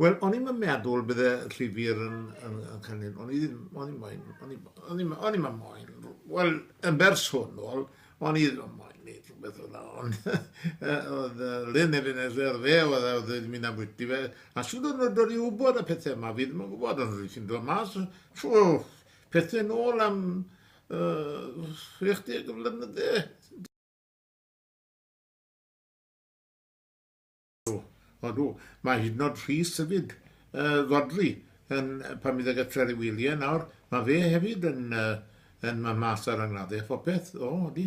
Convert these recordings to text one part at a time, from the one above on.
Wel, o'n i'm yn meddwl bydde llyfr yn, yn, yn cynnig, o'n i ddim, o'n i'n moyn, o'n i'n o'n i'n moyn, wel, yn bersonol, o'n i ddim yn moyn gwneud rhywbeth o dda, ond oedd Lynn Efen Esler fe, oedd e, oedd e'n mynd am wyty fe, a sy'n dod yn dod i wybod y pethau yma, fi ddim yn gwybod, ond rwy'n sy'n dod mas, trwy pethau nôl am uh, 60 o flynydde. Odw, mae hyd yn oed Rhys hefyd, Rhodri, yn pan bydd e gytre i wylie nawr, mae fe hefyd yn yn ma mas ar angladdau a phopeth, o, odi.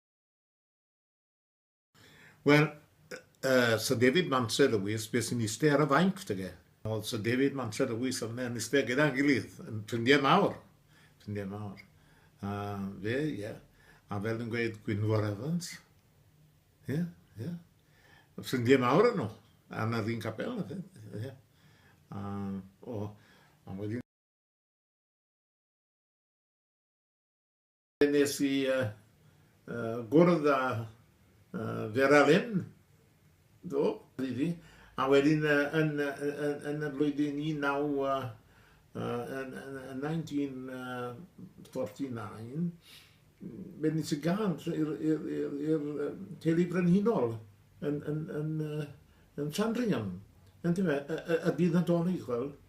Wel, yy, Syr David Mantri Lewis, be sy'n iste ar y fainc, dyge? Oedd Syr David Mantri Lewis yn yn iste gyda'n gilydd, yn ffrindiau mawr, ffrindiau mawr. A fe, ie, yeah. a fel yn gweud Gwynfor Evans, ie, yeah, ie, yeah. ffrindiau mawr yn nhw, a na ddyn capel, ie. Yeah. A, o, a wedyn Wnes i gwrdd â Vera Lynn do, i fi, a wedyn yn y flwyddyn 1949, fe wnes i gân i'r teulu brenhinol yn Sandringham, yndyfe, y byd Nadolig, wel,